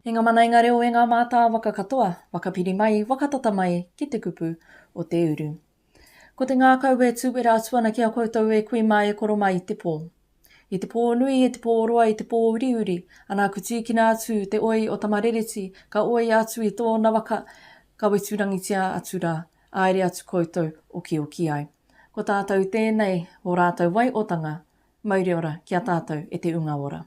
E nga mana, e nga reo, e nga mātāwaka katoa, whakapiri mai, whakatata mai ki te kupu o te uru. Ko te ngākau e tūwera atu ana ki a koutou e kui mā e koro mā i te pō. I te pō nui, i te pō roa, i te pō uriuri, ana ku tīkina atu te oi o Tamarereti, ka oia atu i tōna waka, ka weturangitia atu rā. Aere atu koutou okioki ai. Ko tātou tēnei o rātou waiotanga, mauri ora ki a tātou e te Unga Ora.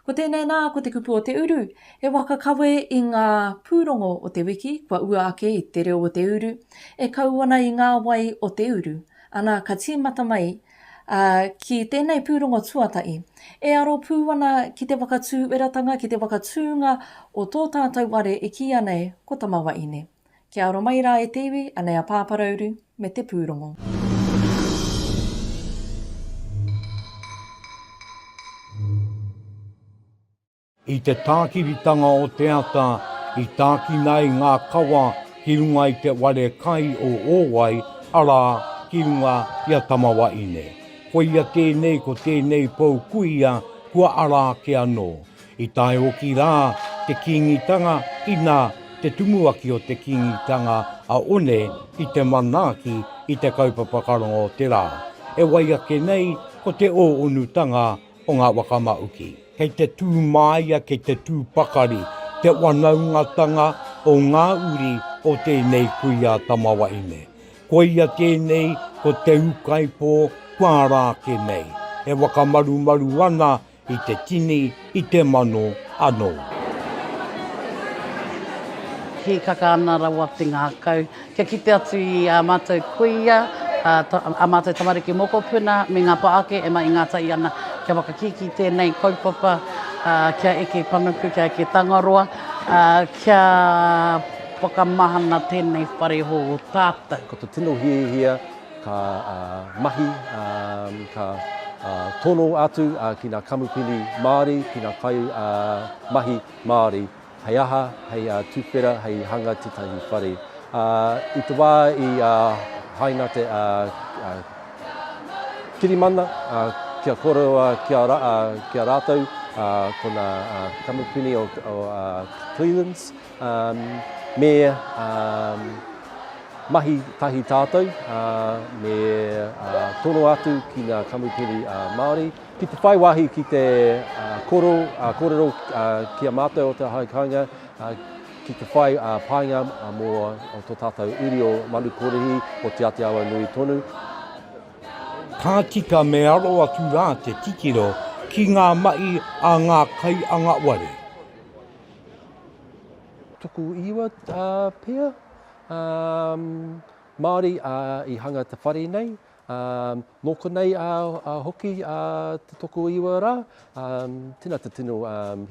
Ko tēnei nā, ko Te Kupu o Te Uru, e waka kawe i ngā pūrongo o te wiki kua ua ake i Te Reo o Te Uru, e kau ana i ngā wai o te uru. Ana ka tīmata mai a, ki tēnei pūrongo tuatahi, e aro pū ana ki te whakatū ueratanga, ki te whakatūnga o tō tātou ware e kīia nei ko Tamawaine. Kia aro mai rā e te iwi, anei a Pāparauru me te pūrongo. I te tākiritanga o te ata i tākina ai ngā kawa ki runga i te ware kai o Ōwai, arā, ki runga i a Tamawaine. Koia tēnei ko tēnei pou kuia kua ara ake anō. I tae hoki rā te Kīngitanga inā te tumuaki o te Kīngitanga a One ki te manaaki i te kaupapa karonga o te rā, e wai ake nei ko te ō-onutanga o ngā waka maūki. Kei te tū māia, kei te tū pakari te wanaungatanga o ngā uri o tēnei kuia tamawaine. Koia tēnei ko Te Ūkaipō kua ara ake nei, e whakamarumaru ana I te tini, i te mano anō. Hīkaka ana rawa te ngākau kia kite atu i ā mātou kuia, ā mātou tamariki mokopuna me ngā pā ake e maingātahi ana kia whakakī ki tēnei kaupapa kia eke panuku, kia eke Tangaroa, kia whakamahana tēnei whare hou o tātou. Ko te tino hiahia. ka mahi, ka tono atu ki ngā kamupene Māori, ki ngā kaimahi Māori, hei aha, hei tuwhera, hei hanga tētahi whare. I te wā i haina te kirimana kia koroua ki a rātou ko ngā kamupene o Cleland's, Me mahi tahi tātou, me toro atu ki ngā kamupene Māori. Ki te whai wāhi ki te kōrero ki a mātou o Te Aho Kāinga, ki te whai painga mō tō tātou uri o Manukōrihi, o Te Ātiawa-nui tonu. Ka tika me aro atu rā te titiro ki ngā mahi a ngā kaiangaware. Tuku iwa pea Māori i hanga te whare nei. Nō konei hoki te tuku iwa rā. Tēnā te tino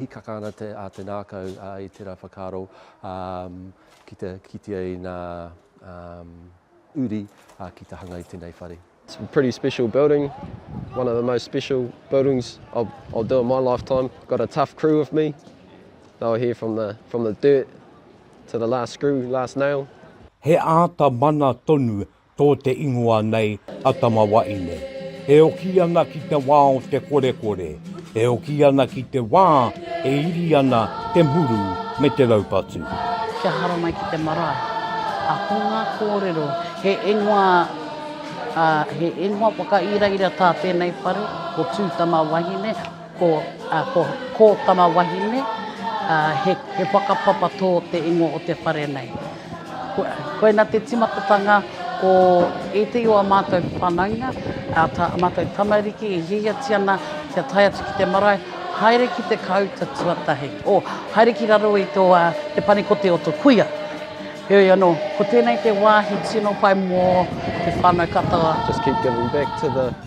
hīkaka ana a te ngākau i tērā whakaaro ki te kitea i ngā uri ki te hanga i tēnei whare. It's a pretty special building, one of the most special buildings I'll, I'll do in my lifetime. Got a tough crew with me, they were here from the, from the dirt to the last screw, last nail. He āta mana tonu tō te ingoa nei a Tamawaine. E oki ana ki te wā o te korekore. E oki ana ki te wā e iri ana te muru me te raupatu. Kia haramai ki te marae. A ko ngā kōrero, he ingoa, ā, he ingoa whakairaira tā tēnei whare, ko Tūtamawahine, ko, ā, ko Kōtamawahine, ā, he, he whakapapa tō te ingoa o te whare nei. Koina te timatatanga o ētehi o a mātou whanaunga, a mātou tamariki e hiahiati ana kia tae atu ki te marae, haere ki te kāuta tuatahi, o, haere ki raro i tō, a, te panekote o tō kuia. Heoi anō, ko tēnei te wāhi tino pai mō te whānau katoa. Just keep giving back to the.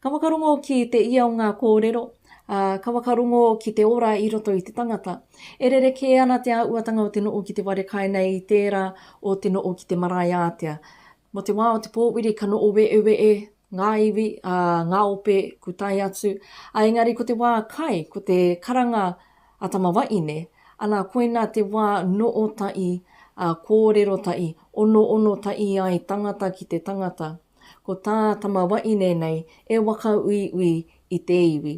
Ka whakarongo ki te ia o ngā kōrero, ā, ka whakarongo ki te ora i roto i te tangata. E rerekē ana te āhuatanga o te noho ki te ware kai nei i tērā o te noho ki te marae ātea. Mō te wā o te pōwiri ka noho weeweeē ngā iwi, ā, ngā ope ku tae atu, ā, engari ko te wā kai, ko te karanga a tama waine, ana koina te wā noho tahi, ā, kōrero tahi, onoono tahi ai tangata ki te tangata. Ko tā Tamawaine nei e waka uiui i te iwi.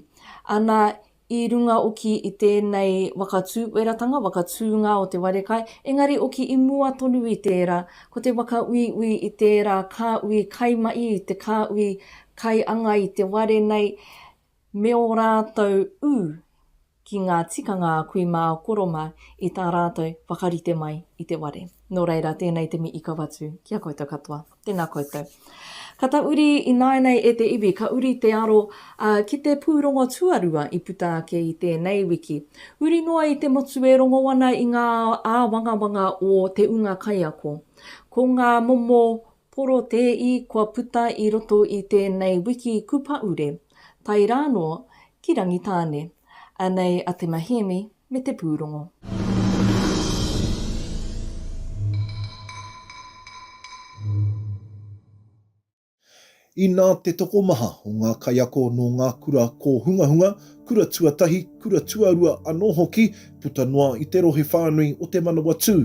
Ana, i runga oki i tēnei waka tūweratanga, waka tūnga o te ware kai, engari oki i mua tonu i tērā, ko te waka uiui i tērā kāui kaimahi, te kāui kaianga i te ware nei, me ō rātou ū ki ngā tikanga a kui mā a koro mā i tā rātou whakarite mai i te ware. Nō reira, tēnei te mii kauatu ki a koutou katoa. Tēnā koutou. Ka tauri ināianei e te iwi, ka uri te aro ki te pūrongo tuarua i puta ake i tēnei wiki. Huri noa i te motu e rongo ana i ngā āwangawanga o te ūnga kaiako. Ko ngā momo Porotēi kua puta i roto i tēnei wiki kupaure, tae rānō ki Rangitāne. Anei a Te Mahiemi me te pūrongo. Inā te tokomaha o ngā kaiako nō ngā kura kōhungahunga, kura tuatahi, kura tuarua anō hoki, puta noa i te rohe whānui o Te Manawatū,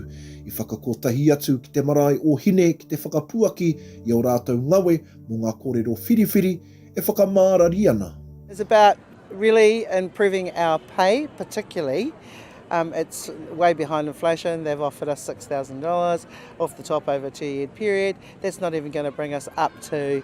i whakakotahi atu ki te marae o Hine ki te whakapuaki i ō rātou ngawe mō ngā kōrero whiriwhiri e whakamārari ana. It's about really improving our pay, particularly, um, it's way behind inflation, they've offered us $6,000 off the top over a two-year period, that's not even going to bring us up to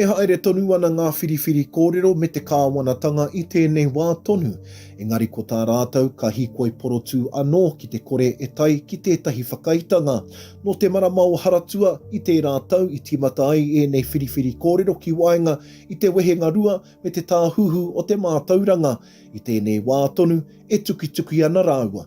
E haere tonu ana ngā whiriwhiri kōrero me te kāwanatanga i tēnei wā tonu, engari ko tā rātou ka hīkoi porotū anō ki te kore e tae ki tētahi whakaaetanga. Nō te marama o Haratua i tērā tau i tīmata ai ēnei whiriwhiri kōrero ki waenga i te wehenga rua me te tāhuhu o te mātauranga. I tēnei wā tonu e tukituki ana rāua.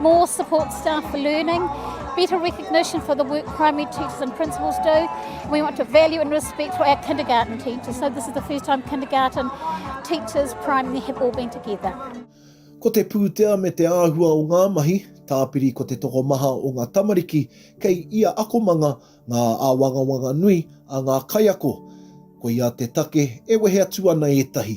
More support staff for learning, better recognition for the work primary teachers and principals do. We want to value and respect for our kindergarten teachers. So this is the first time kindergarten teachers, primary have all been together. Ko te pūtea me te āhua o ngā mahi, tāpiri ko te tokomaha o ngā tamariki kei ia akomanga ngā āwangawanga nui a ngā kaiako. Koia te take e wehe atu ana ētahi.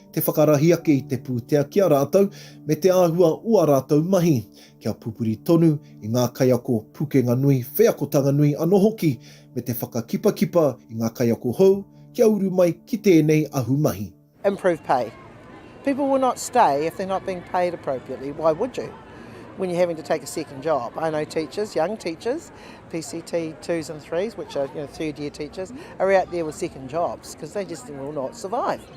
te whakarahi ake i te pūtea ki a rātou me te āhua o ā rātou mahi, kia pupuri tonu i ngā kaiako pukenga nui, wheakotanga nui anō hoki, me te whakakipakipa i ngā kaiako hou kia uru mai ki tēnei ahumahi. Improve pay. People will not stay if they're not being paid appropriately, why would you when you're having to take a second job? I know teachers, young teachers, PCT twos and threes, which are you know, third year teachers, are out there with second jobs because they just will not survive.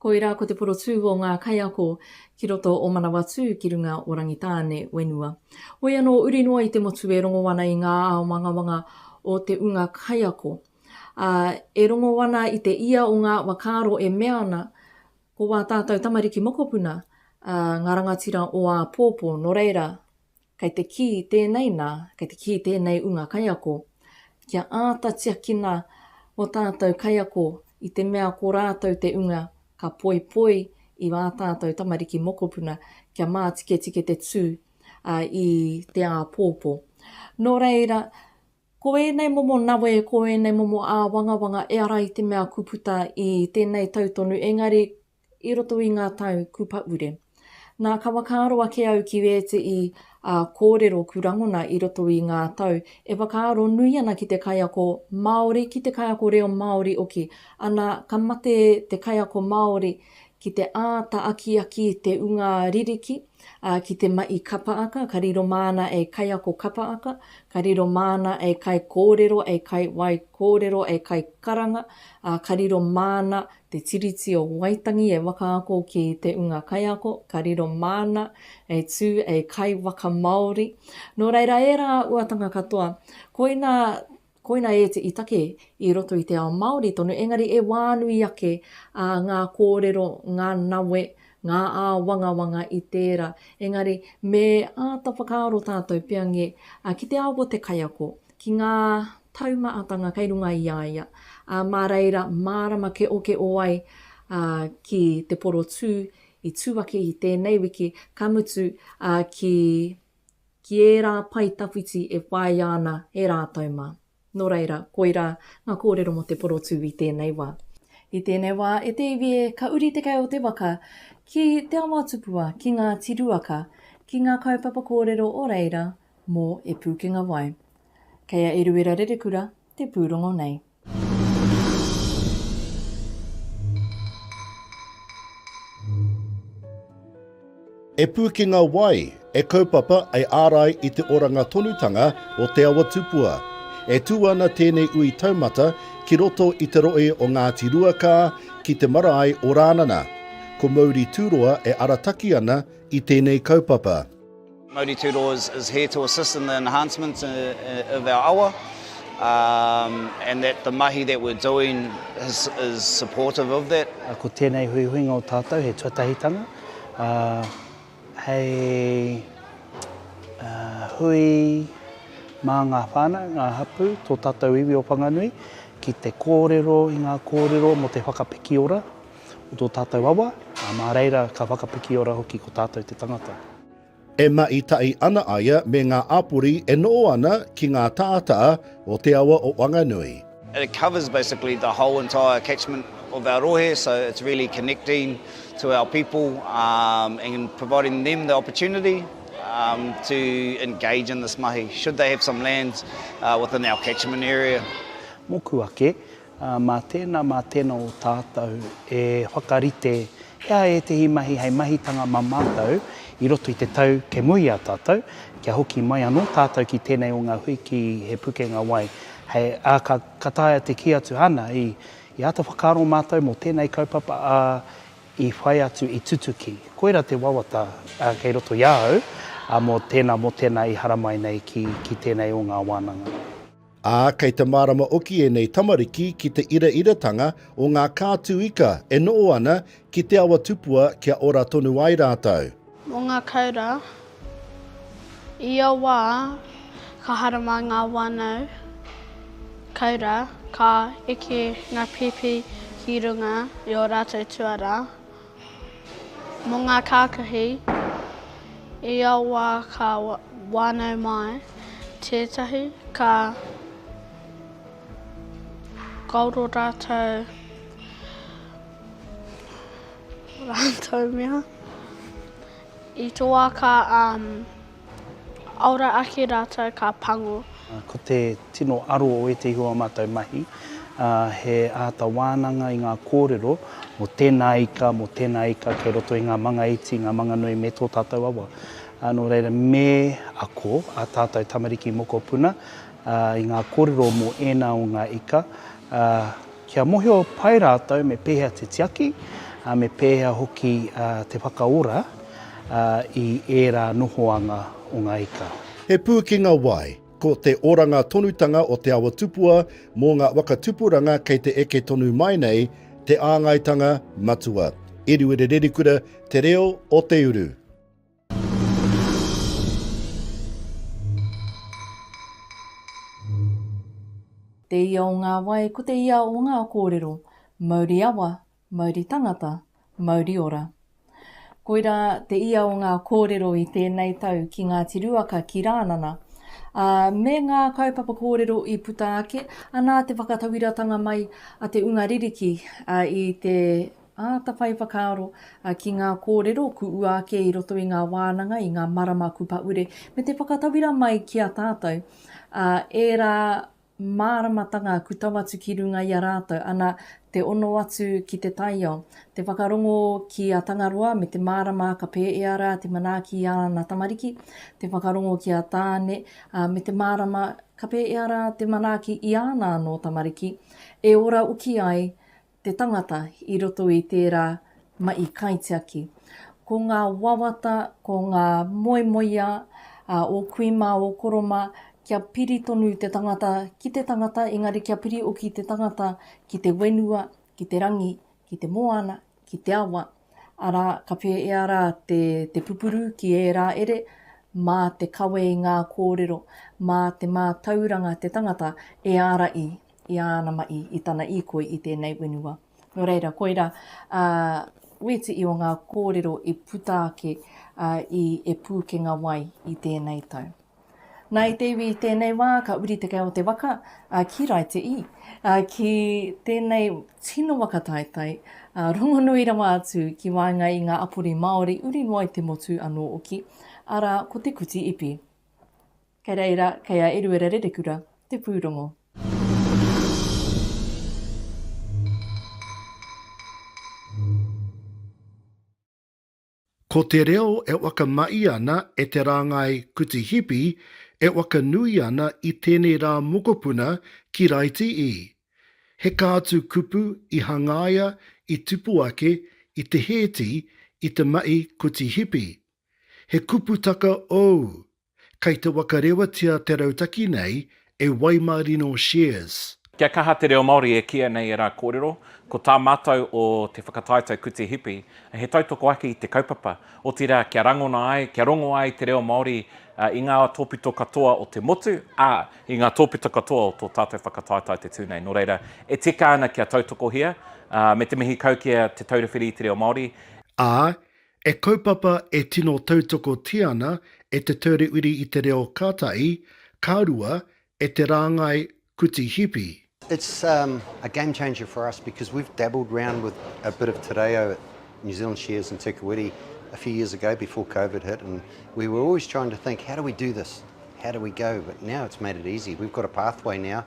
Koirā ko te porotū o ngā kaiako ki roto o Manawatū ki runga o Rangitāne whenua. Hoi anō uri noa i te motu e rongo ana i ngā aomangawanga o te unga kaiako, ā, e rongo ana i te ia o ngā whakaaro e mea ana, ko wā tātou tamariki mokopuna, ā, ngā rangatira o āpōpō, nō reira, Kei te kī tēnei nā, kei te kī tēnei ūnga kaiako, kia āta tiakina ō tātou kaiako i te mea ko rātou te ūnga ka poipoi i ā tātou tamariki mokopuna kia mātiketike te tū i te āpōpō. Nō reira, ko ēnei momo nawe, ko ēnei momo āwangawanga ehara i te mea kua puta i tēnei tau tonu, engari i roto i ngā tau ku pahure. Nā ka wakaaro ake au ki ēteʻi a kōrero ku rangona i roto i ngā tau e whakaaro nui ana ki te kaiako Māori ki te kaiako reo Māori oki ana ka mate te kaiako Māori ki te āta akiaki te unga ririki a ki te maʻi kapa aka ka riro māna e kaiako kapa aka ka riro māna e kai kōrero e kai wai kōrero e kai karanga a ka riro māna Te Tiriti o Waitangi e whakaako ki te ūnga kaiako ka riro māna e tū hei kaiwaka Māori. Nō reira ērā uatanga katoa, koina, koina e te i take i roto i te ao Māori tonu, engari e wānui ake ā ngā kōrero, ngā nawe, ngā āwangawanga i tērā. Engari me āta whakaaro tātou pea ngē, ki te ao o te kaiako, ki ngā taumahatanga kei runga i a ia, ā, mā reira mārama keokeo ai ki te porotū i tū ake i tēnei wiki, ka mutu ki, ki ērā pae tawhiti e whāia ana e rātou mā. Nō reira, koirā ngā kōrero mō te porotū i tēnei wā. I tēnei wā, e te iwi e, ka uri te kai o te waka ki Te Awa Tupua, ki Ngāti Ruaka, ki ngā kaupapa kōrero o reira, Mō E Pūkenga Wai. Kei a Eruera Rerekura te pūrongo nei. E Pūkenga Wai, e kaupapa, e ārai i te oranga tonutanga o Te Awa Tupua. E tū ana tēnei ui taumata ki roto i te rohe o Ngāti Ruakā ki te marae o Rānana. Ko Mauri Tūroa e arataki ana i tēnei kaupapa. Ngāti Tūroa is is here to assist in the enhancements of our awa and that the mahi that we're doing is is supportive of that. Ko tēnei huihuinga o tātou he tuatahitanga hei hui mā ngā whānau, ngā hapū, tō tātou iwi o Whanganui ki te kōrero i ngā kōrero mō te whakapikiora o tō tātou awa, mā reira ka whakapikiora hoki ko tātou te tangata. E mahi tahi ana a ia me ngā āpori e noho ana ki ngā tātaa o te awa o Wanganui. and it covers basically the whole entire catchment of our rohe, so it's really connecting to our people um and providing them the opportunity um to engage in this mahi should they have some land within our catchment area. Moku ake, Mā tēnā, mā tēnā o tātou e whakarite i a ētehi mahi hei mahitanga mā mātou i roto i te tau kei mua i a tātou, kia hoki mai anō tātou ki tēnei o ngā hui ki He Pukenga Wai. Hei, ā, ka, ka taea te kī atu, āna, i, i āta whakaaro mātou mō tēnei kaupapa, ā, i whai atu, i tutuki. Koirā te wawata, ā, kei roto i a au, ā, mō tēnā, mō tēnā i haramai nei ki, ki tēnei o ngā wānanga. Ā, kei te mārama oki ēnei tamariki ki te irairatanga o ngā kātū ika e noho ana ki te awa tupua kia ora tonu ai rātou. Mō ngā koura, i ia wā ka harama ngā wānau koura, ka eke ngā pēpi ki runga i ō rātou tuarā, Mō ngā kākahi, i a wā ka wānau mai tētahi, ka kaoro rātou rātou mea. I tō wā ka Ora ake rātou ka pango. Ko te tino aro o ētehi o ā mātou mahi, he āta wānanga i ngā kōrero mō tēnā ika, mō tēnā ika kei roto i ngā manga iti, ngā manga nui me tō tātou awa. Nō reira, me ako ā tātou tamariki mokopuna i ngā kōrero mō ēnā o ngā ika, Kia mohio pai rātou me pēhea te tiaki, ā, me pēhea hoki te whakaora i ērā nohoanga o ngā ika. He pūkenga wai, ko te oranga tonutanga o Te Awa Tupua mō ngā waka tupuranga kei te eke tonu mai nei te āngaitanga matua. Eruere Rerikura, Te Reo o te Uru. Te ia o ngā wai ko te ia o ngā kōrero, mauri awa, mauri tangata, mauri ora. Koirā te ia o ngā kōrero i tēnei tau ki Ngāti Ruaka, ki Rānana, ā, me ngā kaupapa kōrero i puta ake, anā te whakatawiratanga mai a te unga ririki i te Atawhai whakaaro ki ngā kōrero kuʻua ake i roto i ngā wānanga i ngā marama kupaure me te whakatauira mai ki a tātou ā ērā māramatanga ku tau atu ki runga i a rātou ana te ono atu ki te taiao te whakarongo ki a Tangaroa me te mārama ka pēea rā te manaaki i āna tamariki te whakarongo ki a Tāne ā me te mārama ka pēea rā te manaaki i āna anō tamariki e ora uki ai te tangata i roto i tērā mahi kaitiaki. Ko ngā wawata, ko ngā moemoeā ō kui mā, ō koro mā, kia piri tonu te tangata ki te tangata, engari kia piri hoki te tangata ki te whenua, ki te rangi, ki te moana, ki te awa, arā, ka pēhea rā te, te pupuru ki ērā ere, mā te kawe i ngā kōrero, mā te mātauranga te tangata e ārahi i āna mahi, i tana īkoi i tēnei whenua. Nō reira, koirā ā wētiī o ngā kōrero i puta ake i E Pūkenga Wai i tēnei tau. Nā, i te iwi i tēnei wā, ka uri te kai o te waka ki Raitiī, ki tēnei tino waka taetae, rongonui rawa atu ki waenga i ngā apori Māori uri noa i te motu anō hoki, arā, ko Te Kuti Ipi. Kei reira, kei a Eruera Rerekura te pūrongo. Ko te reo e whakamahi ana e te rāngai kuti hipi e whakanui ana i tēnei rā mokopuna ki Raiti i. He kātu kupu i hangaia i tipu ake i te hēti i te mahi kuti hipi. He kuputaka ou Kei te wakarewatia te rautaki nei e Waimarino Shares. Kia kaha te reo Māori e kīia nei ērā kōrero, ko tā mātou o Te Whakataetae Kuti Hipi, he tautoko ake i te kaupapa, otirā kia rangona ai, kia rongo ai te reo Māori i ngā tōpito katoa o te motu, ā, i ngā tōpito katoa o tō tātou whakataetae te tū nei. Nō reira, e tika ana kia tautokohia, me te mihi kau ki a Te Taura Whiri i te Reo Māori, Ā, He kaupapa e tino tautokotia ana e Te Ture Uri i te Reo ka tahi, ka rua, e te rāngai Kuti Hipi. It's a game changer for us because we've dabbled round with a bit of te reo at New Zealand Shares and Te Kuiti a few years ago before Covid hit and we were always trying to think how do we do this, how do we go, but now it's made it easy. We've got a pathway now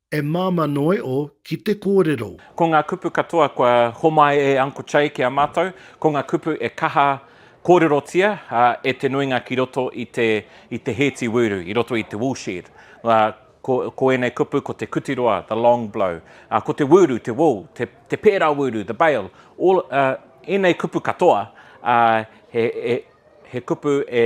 E Māmā Noi o ki te kōrero. Ko ngā kupu katoa kua homai e Uncle Chay ki a mātou, ko ngā kupu e kaha kōrerotia e te nuinga ki roto i te i te hēti wūru, i roto i te woolshed. Ko ko ēnei kupu ko te kuti roa, the long blow, ko te wūru, te wool, te te pērā wūru, the bale, all, ēnei kupu katoa he he he kupu e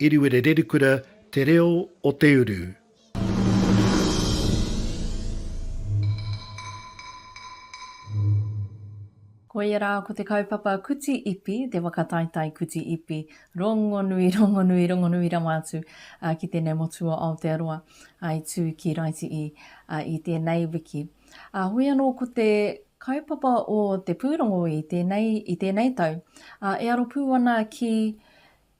Iriwere Rerikura Te Reo o te Uru. Koia rā ko te kaupapa Kuti Ipi, te whakataetae Kuti Ipi, rongonui, rongonui, rongonui rawa atu ki tēnei motu o Aotearoa i tū ki Raitii i tēnei wiki. Heoi anō ko te kaupapa o te pūrongo i tēnei, i tēnei tau, e aro pū ana ki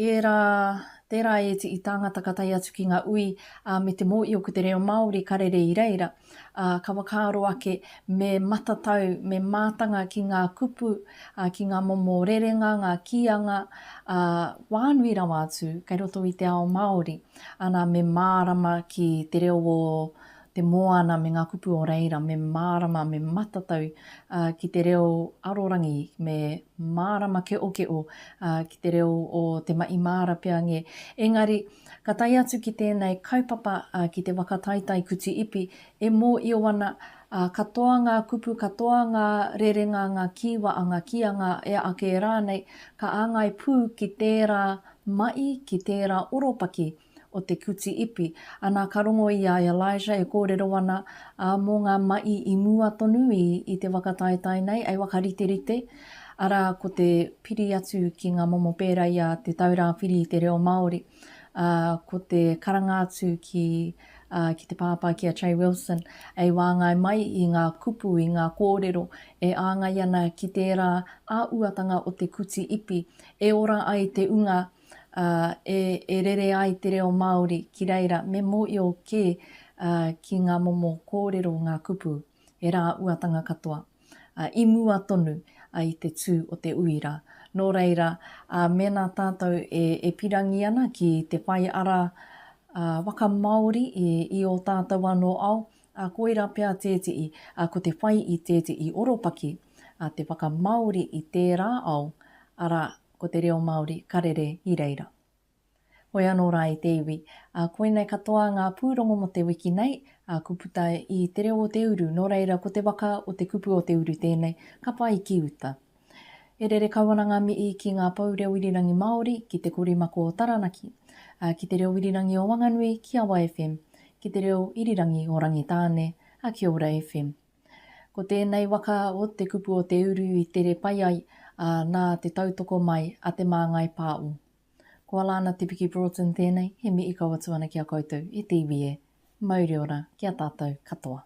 Ērā, tērā ēti i tāngata ka tae atu ki ngā ui, ā, me te mōio ko te reo Māori ka rere i reira, ā, ka whakaaro ake me matatau, me mātanga ki ngā kupu, ā, ki ngā momo rerenga, ngā kīanga, ā, whānui rawa atu kei roto i te ao Māori, ana me mārama ki te reo o te moana me ngā kupu o reira, me mārama, me matatau ki te reo arorangi, me mārama keʻokeʻo ki te reo o te maʻi māra pea nge. Engari, ka tae atu ki tēnei kaupapa ki te waka taitai kuti ipi, e mōio ana, katoa ngā kupu, katoa ngā rerenga, ngā kīwa a ngā kīanga e ake rānei, ka āngai pū ki tērā maʻi, ki tērā oropaki, o te kuti ipi. Ana ka rongo i a Elijah e kōrero ana, ā, mō ngā maʻi i mua tonu i, i te waka taetae nei, e whakariterite, arā, ko te piri atu ki ngā momo pērā i a Te Taura Whiri i te Reo Māori, ā, ko te karanga atu ki, ā, ki te pāpā, ki a Che Wilson, e wāngai mai i ngā kupu, i ngā kōrero e āngai ana ki tērā āuatanga o te kuti ipi, e ora ai te unga, ā, e, e rere ai te reo Māori ki reira me mōio kē ā, ki ngā momo kōrero, ngā kupu, he rā uatanga katoa, ā, i mua tonu ā, i te tū o te uira. Nō reira, ā, mēnā tātou e, e pirangi ana ki te whai ara ā, waka Māori i, i ō tātou anō ao, ā, koirā pea tētehi, ā, ko te whai i tētehi oropaki, ā, te whakamāori i tērā ao, arā, Ko te reo Māori ka rere i reira. Hoi anō rā i te iwi, ā, koinei katoa ngā pūrongo mō te wiki nei, ā, ko puta i Te Reo o Te Uru, nō reira ko te waka o Te Kupu o Te Uru tēnei, ka pai ki uta. E rere kau ana ngā mihi ki ngā pou reo irirangi Māori, ki Te Korimako o Taranaki, ā, ki Te Reo Irirangi o Wanganui, ki Awa FM, ki Te Reo Irirangi o Rangitāne, ā, ki Ora FM. Ko tēnei waka o Te Kupu o Te Uru i tere pai ai ā, nā te tautoko mai a Te Māngai Pāo. Ko Alana Te Piki Broughton tēnei, he mihi kau atu ana ki a koutou e TVE. Mauri ora ki a tātou katoa.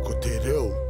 Ko te reo.